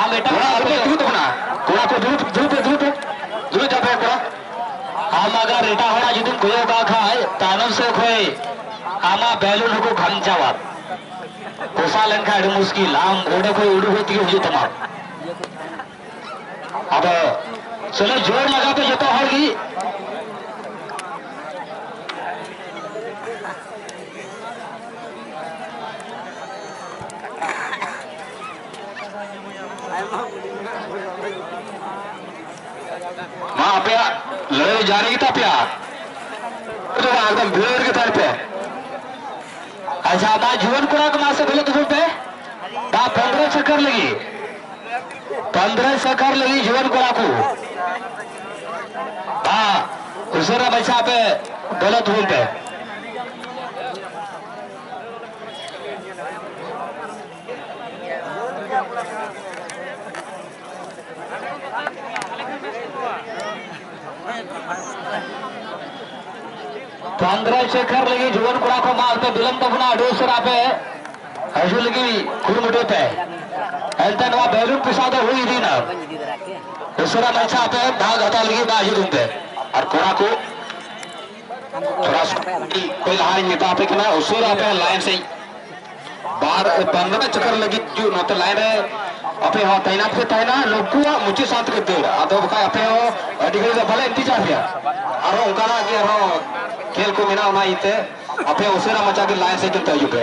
ᱟᱢ ᱮᱴᱟᱜ ᱠᱚᱲᱟ ᱟᱞᱚᱯᱮ ᱫᱩᱲᱩᱵ ᱛᱟᱵᱚᱱᱟ ᱠᱚᱲᱟ ᱠᱚ ᱫᱩᱲᱩᱵ ᱫᱩᱲᱩᱵ ᱯᱮ ᱫᱩᱲᱩᱵ ᱯᱮ ᱫᱩᱲᱩᱵ ᱡᱟᱣ ᱯᱮ ᱠᱚᱲᱟ ᱟᱢ ᱟᱜᱟᱨ ᱮᱴᱟᱜ ᱦᱚᱲᱟᱜ ᱡᱩᱫᱤᱢ ᱠᱚᱭᱚᱜ ᱠᱟᱜ ᱠᱷᱟᱡ ᱛᱟᱭᱱᱚᱢ ᱥᱮᱫ ᱠᱷᱚᱡ ᱟᱢᱟᱜ ᱵᱮᱞᱩᱱ ᱦᱚᱸᱠᱚ ᱠᱷᱟᱢᱪᱟᱣᱟ ᱯᱚᱥᱟ ᱞᱮᱱᱠᱷᱟᱡ ᱟᱹᱰᱤ ᱢᱩᱥᱠᱤᱞ ᱟᱢ ᱚᱸᱰᱮ ᱠᱷᱚᱡ ᱩᱰᱩᱠ ᱦᱩᱭ ᱛᱮᱜᱮ ᱦᱩᱭᱩᱜ ᱛᱟᱢᱟ ᱟᱫᱚ ᱪᱚᱞᱚ ᱡᱳᱨ ᱞᱟᱜᱟᱣ ᱯᱮ ᱡᱚᱛᱚ ᱦᱚᱲ ᱜᱮ ᱢᱟ ᱟᱯᱮᱭᱟᱜ ᱞᱟᱹᱲᱦᱟᱹᱭ ᱡᱟᱹᱨᱤ ᱜᱮᱛᱟ ᱯᱮᱭᱟ ᱮᱠᱫᱚᱢ ᱵᱷᱤᱲ ᱨᱮᱜᱮ ᱛᱟᱦᱮᱱ ᱯᱮ ᱟᱪᱪᱷᱟ ᱫᱟ ᱡᱩᱣᱟᱹᱱ ᱠᱚᱲᱟ ᱠᱚ ᱢᱟᱥᱮ ᱵᱷᱤᱞᱟᱹ ᱫᱩᱯᱩᱞ ᱯᱮ ᱫᱟ ᱯᱚᱱᱫᱨᱚ ᱥᱟᱠᱷᱟᱨ ᱞᱟᱹᱜᱤᱫ ᱯᱚᱱᱫᱨᱚ ᱥᱟᱠᱷᱟᱨ ᱞᱟᱹᱜᱤᱫ ᱡᱩᱣᱟᱹᱱ ᱠᱚᱲᱟ ᱠᱚ ᱫᱟ ᱩᱥᱟᱹᱨᱟ ᱵᱟᱪᱷᱟ ᱯᱮ ᱵᱷᱤᱞᱟᱹ ᱫᱩᱯᱩᱞ ᱯᱮ ᱪᱚᱱᱫᱨᱚᱥᱮᱠᱷᱚᱨ ᱞᱟᱹᱜᱤᱫ ᱡᱩᱣᱟᱹᱱ ᱠᱚᱲᱟ ᱠᱚ ᱢᱟ ᱟᱯᱮ ᱵᱤᱞᱚᱢ ᱛᱟᱵᱚᱱᱟ ᱟᱹᱰᱤ ᱩᱥᱟᱹᱨᱟ ᱟᱯᱮ ᱦᱤᱡᱩᱜ ᱞᱟᱹᱜᱤᱫ ᱠᱩᱨᱩᱢᱩᱴᱩᱭ ᱯᱮ ᱮᱱᱛᱮ ᱱᱚᱣᱟ ᱵᱮᱞᱩᱱ ᱯᱮᱥᱟ ᱫᱚ ᱦᱩᱭ ᱤᱫᱤᱭᱮᱱᱟ ᱩᱥᱟᱹᱨᱟ ᱢᱟᱪᱷᱟ ᱟᱯᱮ ᱵᱷᱟᱜᱽ ᱦᱟᱛᱟᱣ ᱞᱟᱹᱜᱤᱫ ᱢᱟ ᱦᱤᱡᱩᱜ ᱯᱮ ᱟᱨ ᱠᱚᱲᱟ ᱠᱚ ᱠᱚᱭ ᱞᱟᱦᱟᱨᱤᱧ ᱢᱮᱛᱟ ᱟᱯᱮ ᱠᱟᱱᱟ ᱩᱥᱩᱨ ᱟᱯᱮ ᱞᱟᱭᱤᱱ ᱥᱮᱡ ᱵᱟᱨ ᱵᱟᱝᱜᱟᱱᱟ ᱪᱚᱠᱚᱨ ᱞᱟᱹᱜᱤᱫ ᱡᱩ ᱱᱚᱛᱮ ᱞᱟᱭᱤᱱ ᱨᱮ ᱟᱯᱮ ᱦᱚᱸ ᱛᱟᱭᱱᱟᱛ ᱯᱮ ᱛᱟᱦᱮᱱᱟ ᱱᱩᱠᱩᱣᱟᱜ ᱢᱩᱪᱟᱹᱫ ᱥᱟᱶ ᱛᱮᱠᱚ ᱫᱟᱹᱲᱟ ᱟᱫᱚ ᱵᱟᱠᱷᱟᱡ ᱟᱯᱮ ᱦᱚᱸ ᱟᱹᱰᱤ ᱜᱷᱟᱹᱲᱤᱡ ᱫᱚ ᱵᱟᱞᱮ ᱤᱱᱛᱤᱡᱟᱨ ᱯᱮᱭᱟ ᱟᱨᱦᱚᱸ ᱚᱱᱠᱟᱱᱟᱜ ᱜᱮ ᱟᱨᱦᱚᱸ ᱠᱷᱮᱞ ᱠᱚ ᱢᱮᱱᱟᱜᱼᱟ ᱚᱱᱟ ᱤᱭᱟᱹᱛᱮ ᱟᱯᱮ ᱩᱥᱟᱹᱨᱟ ᱢᱟᱪᱷᱟ ᱜᱮ ᱞᱟᱭᱤᱱ ᱥᱮᱡ ᱛᱮ ᱦᱤᱡᱩᱜ ᱯᱮ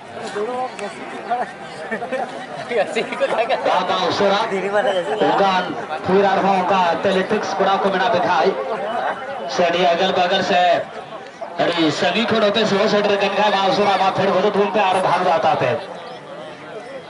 ᱵᱟᱵᱟ ᱩᱥᱟᱹᱨᱟ ᱚᱱᱠᱟᱱ ᱯᱷᱤᱨ ᱟᱨᱦᱚᱸ ᱚᱱᱠᱟ ᱮᱛᱷᱞᱮᱴᱤᱠᱥ ᱠᱚᱲᱟ ᱠᱚ ᱢᱮᱱᱟᱜ ᱵᱮᱠᱷᱟᱡ ᱥᱮ ᱟᱹᱰᱤ ᱟᱜᱟᱞ ᱵᱟᱜᱟᱞ ᱥᱮ ᱟᱹᱰᱤ ᱥᱟᱺᱜᱤᱧ ᱠᱷᱚᱱ ᱚᱯᱮ ᱥᱮᱵᱟ ᱥᱮᱴᱮᱨ ᱠᱟᱱ ᱠᱷᱟᱡ ᱢᱟ ᱩᱥᱟᱹᱨᱟ ᱢᱟ ᱯᱷᱮᱨ ᱵᱚᱫᱚᱞ ᱛᱟᱵᱚᱱ ᱯᱮ ᱟᱨ ᱵᱷᱟᱜᱽ ᱫᱟᱛᱟ ᱯᱮ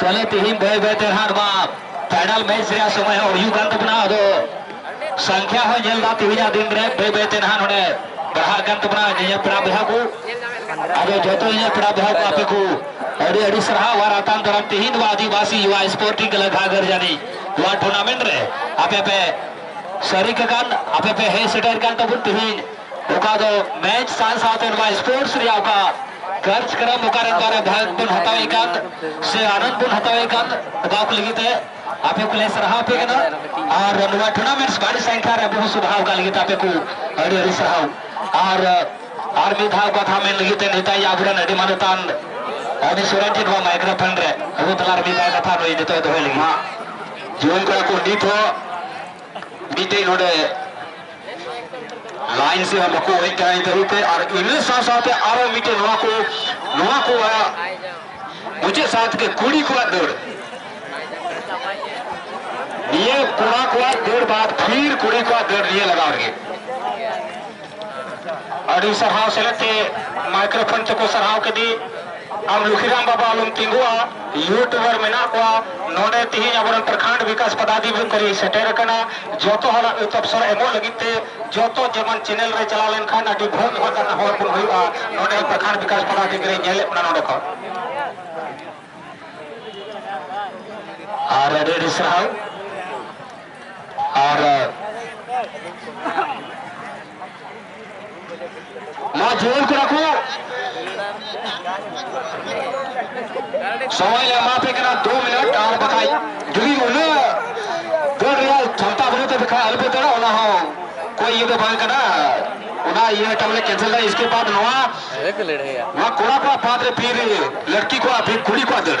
ᱪᱟᱞᱮ ᱛᱤᱦᱤᱧ ᱵᱟᱹᱭ ᱵᱟᱹᱭ ᱛᱮ ᱦᱟᱸᱜ ᱱᱚᱣᱟ ᱯᱷᱟᱭᱱᱟᱞ ᱢᱮᱪ ᱨᱮᱭᱟᱜ ᱥᱚᱢᱚᱭ ᱦᱚᱸ ᱦᱩᱭᱩᱜ ᱠᱟᱱ ᱛᱟᱵᱚᱱᱟ ᱟᱫᱚ ᱥᱚᱝᱠᱷᱭᱟ ᱦᱚᱸ ᱧᱮᱞ ᱫᱟ ᱛᱤᱦᱤᱧᱟᱜ ᱫᱤᱱ ᱨᱮ ᱵᱟᱹᱭ ᱵᱟᱹᱭ ᱛᱮ ᱱᱟᱦᱟᱜ ᱱᱚᱰᱮ ᱵᱟᱲᱦᱟᱜ ᱠᱟᱱ ᱛᱟᱵᱚᱱᱟ ᱧᱮᱧᱮᱞ ᱯᱮᱲᱟ ᱵᱚᱭᱦᱟ ᱠᱚ ᱟᱫᱚ ᱡᱚᱛᱚ ᱧᱮᱧᱮᱞ ᱯᱮᱲᱟ ᱵᱚᱭᱦᱟ ᱠᱚ ᱟᱯᱮ ᱠᱚ ᱟᱹᱰᱤ ᱟᱹᱰᱤ ᱥᱟᱨᱦᱟᱣ ᱟᱨ ᱟᱛᱟᱝ ᱫᱟᱨᱟᱢ ᱛᱤᱦᱤᱧ ᱱᱚᱣᱟ ᱟᱹᱫᱤᱵᱟᱹᱥᱤ ᱭᱩᱣᱟ ᱥᱯᱳᱨᱴᱤᱝ ᱠᱞᱟᱵᱽ ᱜᱷᱟᱜᱚᱨ ᱡᱟᱹᱱᱤ ᱱᱚᱣᱟ ᱴᱩᱨᱱᱟᱢᱮᱱᱴ ᱨᱮ ᱟᱯᱮ ᱯᱮ ᱥᱟᱹᱨᱤ ᱠᱟᱠᱟᱱ ᱟᱯᱮ ᱯᱮ ᱦᱮᱡ ᱥᱮᱴᱮᱨ ᱠᱟᱱ ᱛᱟᱵᱚᱱ ᱛᱤᱦᱤᱧ ᱚᱠᱟ ᱫᱚ ᱢᱮᱪ ᱥᱟᱶ ᱥᱟᱶᱛᱮ ᱱᱚᱣᱟ ᱥᱯᱳᱨᱴᱥ ᱨᱮᱭᱟᱜ ᱚᱠᱟ ᱠᱟᱨᱡᱚᱠᱨᱚᱢ ᱚᱠᱟ ᱨᱮ ᱚᱠᱟ ᱨᱮ ᱵᱷᱟᱜᱽ ᱵᱚᱱ ᱦᱟᱛᱟᱣᱮᱫ ᱠᱟᱱ ᱥᱮ ᱟᱱᱚᱱᱫ ᱵᱚᱱ ᱦᱟᱛᱟᱣᱮᱫ ᱠᱟᱱ ᱚᱠᱟ ᱠᱚ ᱞᱟᱹᱜᱤᱫ ᱛᱮ ᱟᱯᱮ ᱠᱚᱞᱮ ᱥᱟᱨᱦᱟᱣ ᱯᱮ ᱠᱟᱱᱟ ᱟᱨ ᱱᱚᱣᱟ ᱴᱩᱨᱱᱟᱢᱮᱱᱴ ᱵᱟᱹᱲᱤ ᱥᱟᱝᱠᱷᱟ ᱨᱮ ᱟᱵᱚ ᱥᱩᱫᱷᱟᱣ ᱠᱟᱜ ᱞᱟᱹᱜᱤᱫ ᱟᱯᱮ ᱠᱚ ᱟᱹᱰᱤ ᱟᱹᱰᱤ ᱥᱟᱨᱦᱟᱣ ᱟᱨ ᱟᱨ ᱢᱤᱫ ᱫᱷᱟᱣ ᱠᱟᱛᱷᱟ ᱢᱮᱱ ᱞᱟᱹᱜᱤᱫ ᱛᱮ ᱱᱮᱛᱟᱭ ᱟᱵᱚᱨᱮᱱ ᱟᱹᱰᱤ ᱢᱟᱱᱚᱛᱟᱱ ᱟᱹᱰᱤ ᱥᱚᱨᱮᱱ ᱴᱷᱮᱱ ᱱᱚᱣᱟ ᱢᱟᱭᱠᱨᱳᱯᱷᱳᱱ ᱨᱮ ᱟᱵᱚ ᱛᱟᱞᱟᱨᱮ ᱢᱤᱫ ᱫᱷᱟᱣ ᱠᱟᱛᱷᱟ ᱱᱩᱭ ᱱᱤᱛᱚᱜ ᱫᱚᱦᱚᱭ ᱞᱟᱹᱜᱤᱫ ᱡᱩᱣᱟᱹᱱ ᱠᱚᱲᱟ ᱠᱚ ᱱᱤᱛ ᱦᱚᱸ ᱢᱤᱫᱴᱮᱡ ᱱᱚᱰᱮ ᱞᱟᱭᱤᱱ ᱥᱮ ᱵᱟᱠᱚ ᱦᱮᱡ ᱠᱟᱱᱟ ᱱᱤᱛ ᱦᱟᱹᱵᱤᱡ ᱛᱮ ᱟᱨ ᱤᱱᱟᱹ ᱥᱟᱶ ᱥᱟᱶᱛᱮ ᱟᱨᱚ ᱢᱤᱫᱴᱮᱡ ᱱᱚᱣᱟ ᱠᱚ ᱱᱚᱣᱟ ᱠᱚ ᱢᱩᱪᱟᱹᱫ ᱥᱟᱶ ᱛᱮᱜᱮ ᱠᱩᱲᱤ ᱠᱚᱣᱟᱜ ᱫᱟᱹᱲ ᱱᱤᱭᱟᱹ ᱠᱚᱲᱟ ᱠᱚᱣᱟᱜ ᱫᱟᱹᱲ ᱵᱟᱫ ᱯᱷᱤᱨ ᱠᱩᱲᱤ ᱠᱚᱣᱟᱜ ᱫᱟᱹᱲ ᱱᱤᱭᱟᱹ ᱞᱟᱜᱟᱣ ᱨᱮᱜᱮ ᱟᱹᱰᱤ ᱥᱟᱨᱦᱟᱣ ᱥᱮᱞᱮᱫ ᱛᱮ ᱢᱟᱭᱠᱨᱳᱯᱷᱳᱱ ᱛᱮᱠᱚ ᱥᱟᱨᱦᱟᱣ ᱠᱮᱫᱮ ᱟᱢ ᱞᱩᱠᱷᱤᱨᱟᱢ ᱵᱟᱵᱟ ᱟᱞᱚᱢ ᱛᱤᱸᱜᱩᱜᱼᱟ ᱭᱩᱴᱩᱵᱟᱨ ᱢᱮᱱᱟᱜ ᱠᱚᱣᱟ ᱱᱚᱰᱮ ᱛᱤᱦᱤᱧ ᱟᱵᱚᱨᱮᱱ ᱯᱨᱚᱠᱷᱚᱸᱰ ᱵᱤᱠᱟᱥ ᱯᱚᱫᱟᱫᱷᱤᱠᱟᱨᱤ ᱥᱮᱴᱮᱨ ᱟᱠᱟᱱᱟ ᱡᱚᱛᱚ ᱦᱚᱲᱟᱜ ᱛᱚᱯᱥᱚᱨ ᱮᱢᱚᱜ ᱞᱟᱹᱜᱤᱫ ᱛᱮ ᱡᱚᱛᱚ ᱡᱮᱢᱚᱱ ᱪᱮᱱᱮᱞ ᱨᱮ ᱪᱟᱞᱟᱣ ᱞᱮᱱᱠᱷᱟᱱ ᱟᱹᱰᱤ ᱵᱷᱟᱹᱜ ᱦᱚᱲ ᱠᱟᱱᱟ ᱦᱚᱲ ᱵᱚᱱ ᱦᱩᱭᱩᱜᱼᱟ ᱱᱚᱰᱮ ᱯᱨᱚᱠᱷᱚᱸᱰ ᱵᱤᱠᱟᱥ ᱯᱚᱫᱟᱫᱷᱤᱠᱟᱨᱤ ᱧᱮᱞᱮᱫ ᱵᱚᱱᱟ ᱱᱚᱰᱮ ᱠᱷᱚᱱ ᱟᱨ ᱟᱹᱰᱤ ᱟᱹᱰᱤ ᱥᱟᱨᱦᱟᱣ ᱟᱨ ᱱᱚᱣᱟ ᱡᱩᱣᱟᱹᱱ ᱠᱚᱲᱟ ᱠᱚ ᱥᱚᱢᱚᱭ ᱞᱮ ᱮᱢᱟ ᱯᱮ ᱠᱟᱱᱟ ᱫᱩ ᱢᱤᱱᱤᱴ ᱟᱨ ᱵᱟᱠᱷᱟᱡ ᱡᱩᱫᱤ ᱩᱱᱟᱹᱜ ᱫᱟᱹᱲ ᱨᱮᱭᱟᱜ ᱪᱷᱟᱢᱛᱟ ᱵᱟᱹᱱᱩᱜ ᱛᱟᱯᱮ ᱠᱷᱟᱡ ᱟᱞᱚᱯᱮ ᱫᱟᱹᱲᱟ ᱚᱱᱟ ᱦᱚᱸ ᱠᱚᱭ ᱤᱭᱟᱹ ᱫᱚ ᱵᱟᱝ ᱠᱟᱱᱟ ᱚᱱᱟ ᱤᱭᱟᱹ ᱢᱤᱫᱴᱟᱝ ᱵᱚᱞᱮ ᱠᱮᱱᱥᱮᱞ ᱫᱟ ᱤᱥᱠᱮ ᱵᱟᱫ ᱱᱚᱣᱟ ᱱᱚᱣᱟ ᱠᱚᱲᱟ ᱠᱚᱣᱟᱜ ᱵᱟᱫ ᱨᱮ ᱯᱷᱤᱨ ᱞᱟᱹᱴᱠᱤ ᱠᱚᱣᱟᱜ ᱯᱷᱤᱨ ᱠᱩᱲᱤ ᱠᱚᱣᱟᱜ ᱫᱟᱹᱲ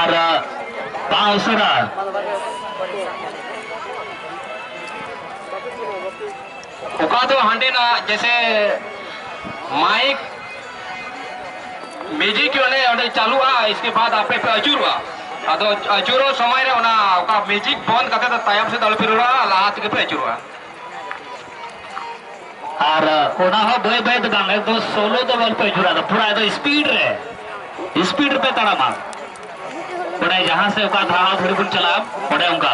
ᱟᱨ ᱵᱟᱝ ᱩᱥᱟᱹᱨᱟ ᱚᱠᱟ ᱫᱚ ᱦᱟᱸᱰᱮᱱᱟᱜ ᱡᱮᱥᱮ ᱢᱟᱭᱤᱠ ᱢᱤᱭᱩᱡᱤᱠ ᱚᱸᱰᱮ ᱚᱸᱰᱮ ᱪᱟᱹᱞᱩᱜᱼᱟ ᱤᱥᱠᱮ ᱵᱟᱫ ᱟᱯᱮ ᱯᱮ ᱟᱹᱪᱩᱨᱚᱜᱼᱟ ᱟᱫᱚ ᱟᱹᱪᱩᱨᱚᱜ ᱥᱚᱢᱚᱭ ᱨᱮ ᱚᱱᱟ ᱚᱠᱟ ᱢᱤᱭᱩᱡᱤᱠ ᱵᱚᱱᱫ ᱠᱟᱛᱮ ᱫᱚ ᱛᱟᱭᱚᱢ ᱥᱮᱫ ᱟᱞᱚᱯᱮ ᱨᱩᱣᱟᱹᱲᱟ ᱞᱟᱦᱟ ᱛᱮᱜᱮ ᱯᱮ ᱟᱹᱪᱩᱨᱚᱜᱼᱟ ᱟᱨ ᱚᱱᱟ ᱦᱚᱸ ᱵᱟᱹᱭ ᱵᱟᱹᱭ ᱫᱚ ᱵᱟᱝ ᱮᱠᱫᱚᱢ ᱥᱳᱞᱳ ᱫᱚ ᱵᱚᱞ ᱯᱮ ᱡᱩᱨᱟ ᱫᱚ ᱯᱩᱨᱟ ᱮᱠᱫᱚᱢ ᱥᱯᱤᱰ ᱨᱮ ᱥᱯᱤᱰ ᱨᱮᱯᱮ ᱛᱟᱲᱟᱢᱟ ᱚᱸᱰᱮ ᱡᱟᱦᱟᱸ ᱥᱮ ᱚᱠᱟ ᱫᱷᱟᱣ ᱫᱷᱟᱹᱨᱤ ᱵᱚᱱ ᱪᱟᱞᱟᱜᱼᱟ ᱚᱸᱰᱮ ᱚᱱᱠᱟ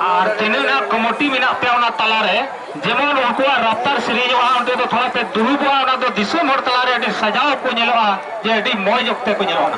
ᱟᱨ ᱛᱤᱱᱟᱹᱜ ᱱᱟᱜ ᱠᱚᱢᱚᱴᱤ ᱢᱮᱱᱟᱜ ᱯᱮᱭᱟ ᱚᱱᱟ ᱛᱟᱞᱟ ᱨᱮ ᱡᱮᱢᱚᱱ ᱩᱱᱠᱩᱣᱟᱜ ᱨᱟᱯᱛᱟᱨ ᱥᱤᱨᱤᱡᱚᱜᱼᱟ ᱚᱸᱰᱮ ᱫᱚ ᱛᱷᱚᱲᱟ ᱯᱮ ᱫᱩᱲᱩᱵᱚᱜᱼᱟ ᱚᱱᱟ ᱫᱚ ᱫᱤᱥᱚᱢ ᱦᱚᱲ ᱛᱟᱞᱟ ᱨᱮ ᱟᱹᱰᱤ ᱥᱟᱡᱟᱣ ᱠᱚ ᱧᱮᱞᱚᱜᱼᱟ ᱡᱮ ᱟᱹᱰᱤ ᱢᱚᱡᱽ ᱚᱠᱛᱮ ᱠᱚ ᱧᱮᱞᱚᱜᱼᱟ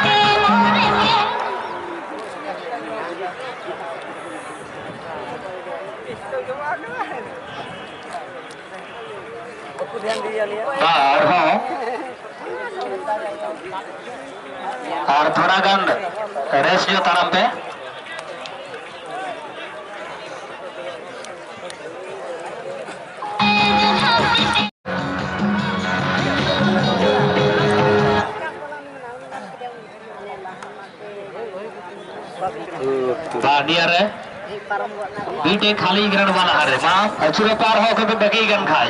ᱟᱨ ᱛᱷᱚᱲᱟ ᱜᱟᱱ ᱨᱮᱥ ᱧᱚᱜ ᱛᱟᱲᱟᱢ ᱯᱮ ᱵᱟᱰᱤᱭᱟᱨᱮ ᱵᱤᱴᱮ ᱠᱷᱟᱞᱤ ᱜᱨᱟᱱᱰ ᱵᱟᱞᱟ ᱦᱟᱨᱮ ᱢᱟ ᱟᱪᱩᱨ ᱯᱟᱨ ᱦᱚ ᱠᱚ ᱵᱟᱜᱤ ᱜᱟᱱ ᱠᱷᱟᱭ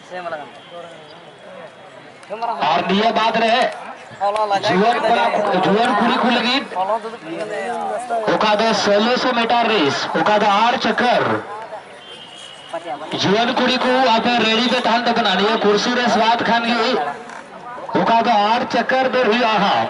ᱟᱨ ᱱᱤᱭᱟᱹ ᱵᱟᱫ ᱨᱮ ᱡᱩᱣᱟᱹᱱ ᱠᱚᱲᱟ ᱡᱩᱣᱟᱹᱱ ᱠᱩᱲᱤ ᱠᱚ ᱞᱟᱹᱜᱤᱫ ᱚᱠᱟ ᱫᱚ ᱥᱳᱞᱳᱥᱚ ᱢᱤᱴᱟᱨ ᱨᱮᱥ ᱚᱠᱟ ᱫᱚ ᱟᱨ ᱪᱟᱠᱟᱨ ᱡᱩᱣᱟᱹᱱ ᱠᱩᱲᱤ ᱠᱚ ᱟᱯᱮ ᱨᱮᱰᱤ ᱯᱮ ᱛᱟᱦᱮᱱ ᱛᱟᱵᱚᱱᱟ ᱱᱤᱭᱟᱹ ᱠᱩᱨᱥᱤ ᱨᱮᱥ ᱵᱟᱫ ᱠᱷᱟᱱ ᱜᱮ ᱚᱠᱟ ᱫᱚ ᱟᱨ ᱪᱟᱠᱟᱨ ᱫᱚ ᱦᱩᱭᱩᱜᱼᱟ ᱦᱟᱸᱜ